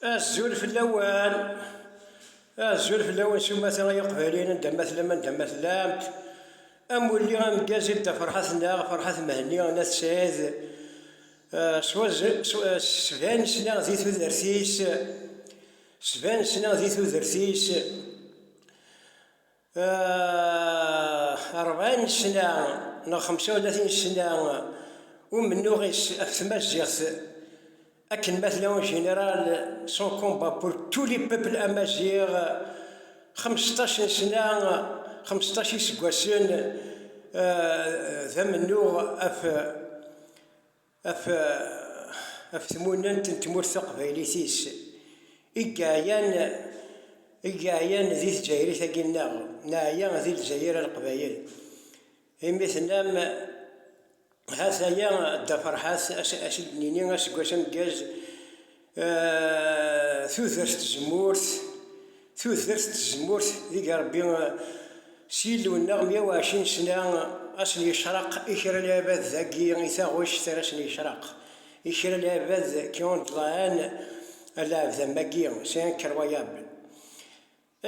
Azul fell-awen, azul fell-awen s umata ay iqbayliyen anda ma tellam anda ma tellamt, amulli ameggaz i Dda Ferḥat neɣ Ferḥat Mhenni n At Sɛid s sban-is neɣ di tudert-is, sban-is neɣ di tudert-is. rebɛin ssna neɣ xemsa u tlatin ssna umennuɣ-is ɣef tmaziɣt akken ma tella en général son combat pour tous les peuples amaziɣ xmesṭac n ssna xmesṭac iseggasen d amennuɣ ɣef af tmunent n tmurt taqbaylit-is i yeɛyan i yeɛyan di tǧayrit-agi nneɣ, neɛya di Lezzayer a Leqbayel, imi tennam ha-t-aya Dda Ferḥat, as-id nini aseggas ameggaz, tudert tzemmurt tudert tzemmurt deg rebbi s yillu-nneɣ mya u ɛecrin sna a sen-yecraq i kra n abad dagi i taɣect ara sen-yecraq i kra n abad qui ont de la haine a lɛebd am wagi c'est incroyable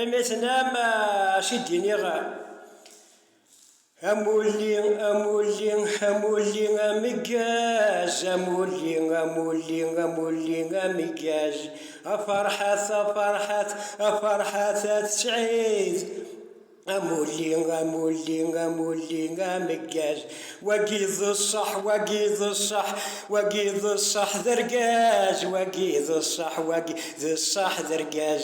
Imi tenam acu d-iniɣ Amulli, amulli, amulli ameggaz Amulli, amulli, amulli ameggaz Aferḥat, aferḥat, aferḥat At Sɛid Amulli, amulli, amulli ameggaz Wagi d ṣṣeḥ, wagi d ṣṣeḥ, wagi d ṣṣeḥ d argaz Wagi d ṣṣeḥ, wagi d ṣṣeḥ d argaz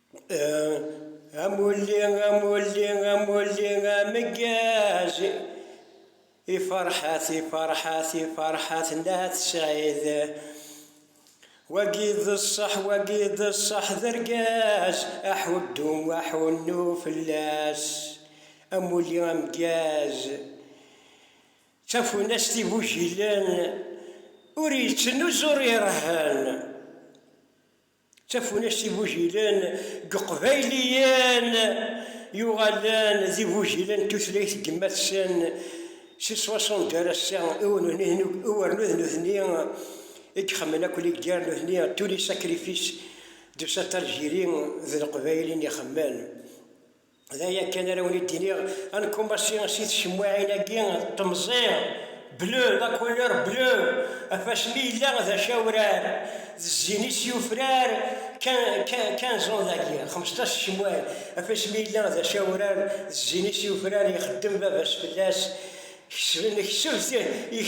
Amulli, amulli, amulli ameggaz, iferḥat, iferḥat, iferḥat n At Sɛid. Wagi d ṣṣeḥ, wagi d ṣṣeḥ d argaz, aḥuddu, aḥunnu fell-as. Amulli ameggaz, d tafunast igujilen, ur yettnuz ur irehhen. D tafunast n igujilen n Yeqbayliyen yuɣalen d igujilen n tutlayt n yemma-tsen si ṣwaṣund ar ass-a, i uwernut n nutni i ixemmen akk ligger n nutni, tous les sacrifices de cet Algérie, d Leqbayel i n-ixemmen. D aya kan ara wen-id-iniɣ, ankumaṣi si tcemmuɛin-agi d temẓi, bleu, la couleur bleue, ɣef wasmi yella d acawrar, d zzin-is yufrar, quinze ans dagi, xmesṭac tcemmuɛin, ɣef wasmi yella d acawrar, d zzin-is yufrar, ixeddem baba-s fell-as, Kesben kesb ti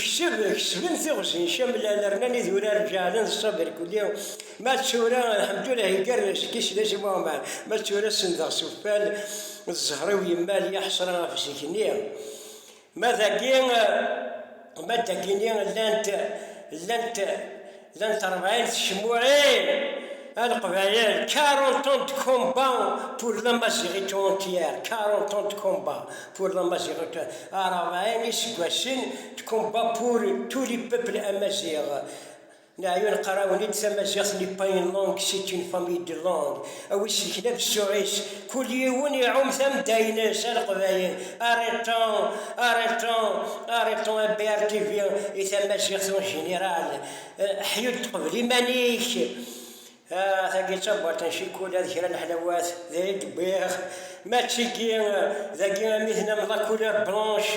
kesb kesben tiɣzi camlan rnan idurar ǧeɛlen d Ṣabir Kuli ma d tura lḥemdulah yeggar seg-i Sdasi Muɛmer ma d tura sendeɣ s uffal d zzher-iw yemmal ya ḥesra ɣef zik-nni ma dagi ma dagi-nni llant llant Llant rebɛin tcemmuɛin a Leqbayel, 40 ans de combat pour la Maziɣit entière, 40 ans de combat pour la Maziɣit, rebɛin iseggasen de combat pour tous les peuples amaziɣ, neɛyun qqarawen-id tamaziɣt n'est pas une langue c'est une famille de langues. A wi iselken ɣef ssuɣ-is, kul yiwen iɛum tamedda-ines, a Leqbayel, arrêtons, arrêtons, arrêtons MBRTV i tamaziɣt en général, ḥyu-d tqebl iman-ik, ah tagi d tabert n ccikula d kra n leḥlawat, d ayen i d-wwiɣ, ma d tigi, dagi am i tnamḍ la couleur blanche,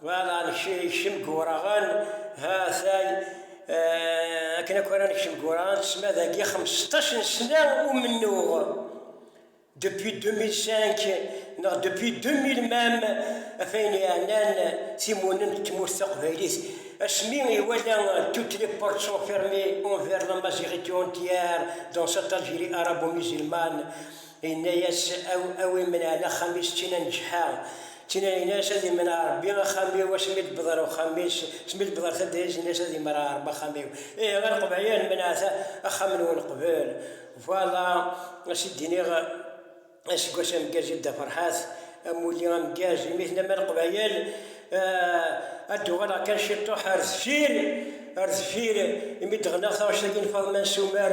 Well ad nekcem deg Wuraɣen, ha-t-ay akken akk ara nekcem deg Wuraɣen, tesma dagi xmesṭac n sna umennuɣ, depuis 2005 neɣ depuis 2000 même, af ayen yeɛnan timunin n tmurt taqbaylit, asmi iwala toutes les portes sont fermées envers l'amaziɣité entière dans cette Algérie arabo-musulmane, Inna-yas, A win menɛen axxam-is d tin aneǧḥa, d tin ara ines, ad imneɛ Rebbi axxam-iw, asmi i d-wwḍeɣ ɣer uxxam-is, asmi i d-wwḍeɣ ɣer taddart-nnes, ad imreɛ Rebbi axxam-iw. Ihi a Leqbayel, menɛet axxam-nwen qbel. Voilà ass i d-iniɣ, aseggas ameggaz i Dda Ferḥat, amulli ameggaz, imi tennam a Leqbayel, ad d-uɣaleɣ kan ciṭuḥ ar deffir, ar deffir, imi d-ɣneɣ taɣect-agi n Faḍma n Sumer,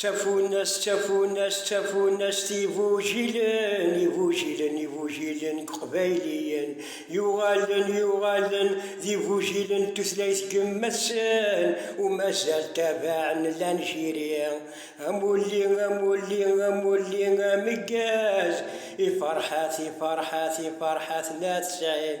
Ttafunna-s, ttafunna-s, ttafunna-s d igujilen, igujilen, igujilen n Yeqbayliyen yuɣalen, yuɣalen d igujilen n tutlayt n yemma-tsen u mazal tabaɛen llan jiri. Amulli, amulli, amulli ameggaz, iferḥat, iferḥat, iferḥat n At Sɛid.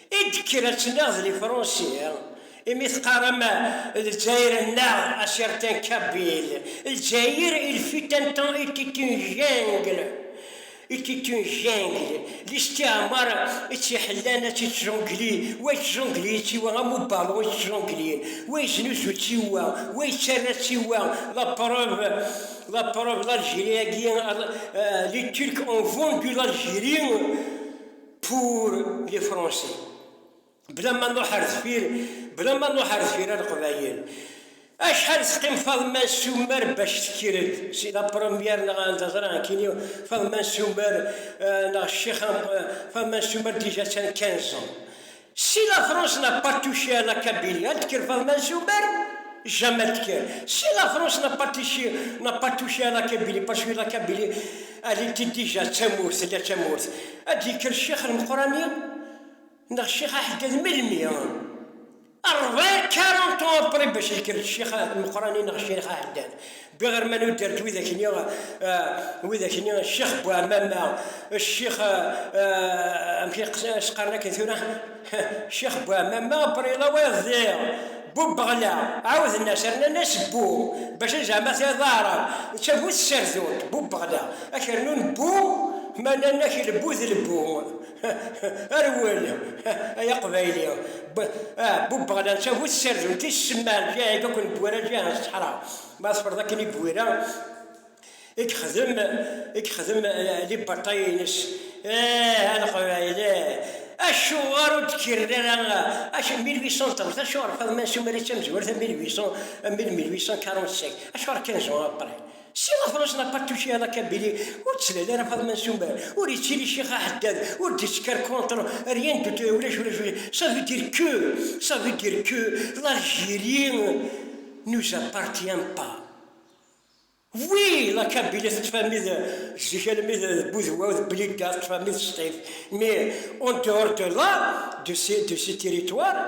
I d-kker ad tiniɣ d lifrunsi, imi teqqarem Lezzayer nneɣ a certains Kabyle, Lezzayer il fut un temps était une jungle, était une jungle, listiɛmar i tt-iḥellan ad tt-ittjungli, wa ittjungli i tt-iwa am ubalun i tt-ttjunglin, wa iznuzu i tt-iwa, wa ittarra i tt-iwa, la preuve, la preuve l'Algérie-agi, les Turcs ont vendu l'Algérie, Pour les français. Bla ma nruḥ ar deffir, bla ma nruḥ ar deffir a leqbayel. Acḥal teqqim Faḍma Soumer bac tekker-d si la première neɣ anda ẓran kini Faḍma Soumer euh, neɣ ccix euh, Faḍma Soumer déjà tsan 15 ans. Si lafrosna Pattishi na Kabili ad d-tekker Faḍma Zumer, Jamal tekker. Si lafrosna Pattishi na Pattishi na Kabili, Pashi na Kabili, ad d-ilti dija d tamurt, tella d tamurt. Ad d-yekker Ccix Lmeqrani neɣ Ccix Aḥeddad melmi? Ṛebɛin, quarante ans après, bac yekker Ccix Lmeqrani neɣ Ccix Aḥeddad. Biɣerman udder d widak-nni, eh, widak-nni, ccix bu ɛmama, ccix, eh, eh, amek as-qqaren akken tura, ccix bu ɛmama, brila wayeḍ di bu beɣla, ɛawden-as, rnan-as bu, bac zeɛma tiɣ d aɛrab, netta bu tsardun, bu beɣla, ak rnun bu, ma nnan-ak lbu d lbu. Rwel, ay Aqbayli, bubb ɣlan tagut ssarden ti semman jahig akk n Bwira jah n ṣṣeḥra. Ma teffreḍ akken i Bwira i yexdem i yexdem liberṭay-ines, eh a Leqbayli, acuɣer ur d-kkren ara acu 1830, acuɣer Faḍma Nsumeri d tamezwarut 1800, 1845, acuɣer kan zwan apray. Si Lafrans n'a pas touché à la Kabylie, ur d-tlal ara Faḍma Soumer, ur yettili ccix aḥeddad, ur d-yettker contre rien du tout, ulac ulac ulac, ça veut dire que, ça veut dire que l'Algérie nous appartient pas. Oui, la Kabylie tettfamid zik almi d Budwa d Blida tettfamid s tif, mais en dehors de là, de ces, de ces territoires,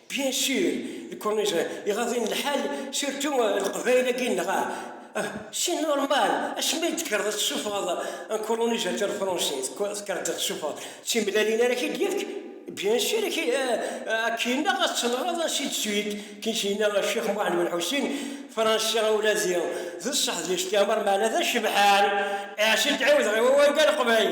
Bien sûr, Corniche, iɣaḍ-in lḥal, surtout Leqbayel-agi nneɣ ah! ah! c'est normal, acimi i d-tekkreḍ a d-tessufɣeḍ un colonisateur français, tekkreḍ d tessufɣeḍ, d timellalin ara k-id-yefk? Bien sûr, a k-yennaɣ ad tenɣeḍ ainsi de suite, kin k-yenna Ccix Muḥend Ben Ḥusin, Fransi ula d d ṣṣeḥ d isṭiɛmar, meɛna d acebḥan, iɛs i d-ɛiwdeɣ i wawal-nni aleqbayel.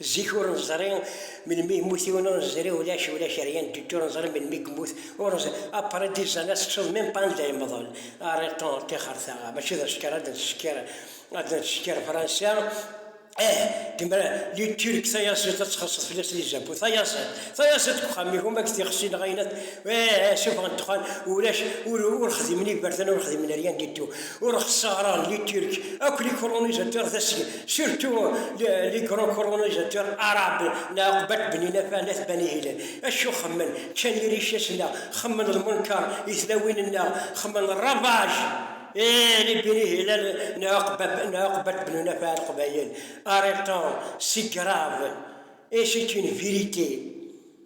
Zik ur neẓri melmi yemmut yiwen, ur neẓri ulac, ulac rien du tout, ur neẓri melmi yemmut, ur neẓri, après dix ans ad tettuḍ même pas anda yemḍel, arrêtons tixerta, mačči d asekker ad nesekker, ad nesekker Fransa, eh lemmer les Turcs tayaziḍt ad txelseḍ fell-as les impôts, tayaziḍt, tayaziḍt deg uxxam-ik uma deg tixsi neɣ ayen, eh eh suffɣen ddexxan, ulac, ur, ur xdimen iberdan, ur xdimen rien du tout, ur xeṣṣaren les Turcs akk les colonisateurs d asgen, Surtout les grands colonisateurs arabes na uqbat bnin afanas Bani Hilal. Acu xemmen? Ččan iricac-nneɣ, xemmen lmenkar i tlawin-nneɣ, xemmen ravage et les Beni Hilal na uqbat bnin afan Leqbayel. Arrêtons, c'est grave et c'est une vérité.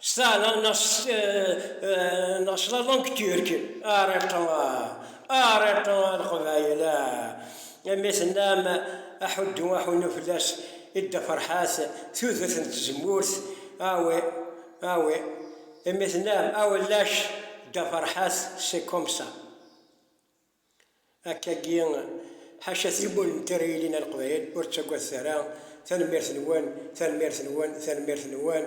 Stana neɣ claḍa deg Turk, Ariṭa, Ariṭa a Leqbayel, mi tennam aḥuddu aḥunnu fell-as i Dda Ferḥat, tudert n tzemmurt, awi, awi, mi tennam awellac Dda Ferḥat, c'est comme ça. Akkagi, ḥaca tiwwal n tira yelin a Leqbayel, ur ttagadet ara, tanemmirt-nwen, tanemmirt-nwen, tanemmirt-nwen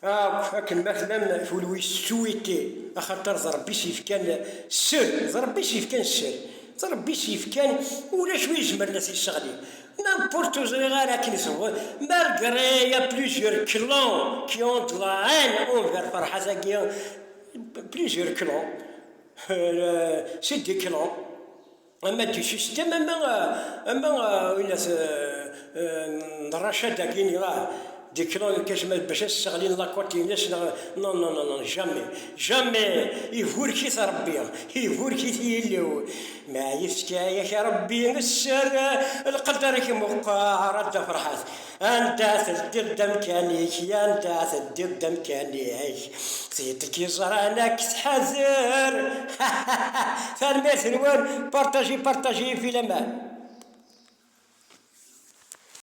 akk, akken ma tellam tulwist s tuwiṭṭi, axaṭer d Rebbi i s-yefkan sser, d Rebbi i s-yefkan sser, d Rebbi i s-yefkan, ulac wi izemren a t-yesseɣli, n'importe, ur ẓriɣ ara akken i tewweḍ, malgré il y a plusieurs clans qui ont de la haine envers Ferhat-agi, plusieurs clans, Siddiqlon, ama d system ama ama ila d rachat dagi ila Diqlon kecmet bac ad sseɣlin lakote ines neɣ non non non non jamais jamais iburkit Rebbi iburkit Yillu meɛyet kan yak a Rebbi sser lqedder-ik meqqer a Dda Ferḥat. Anda teddiḍ d amkan-ik, yanda teddiḍ d amkan-ik, tid i k-iẓran ad k-tḥazer. Tanemmirt-nwen, partagez, partagez, filaman.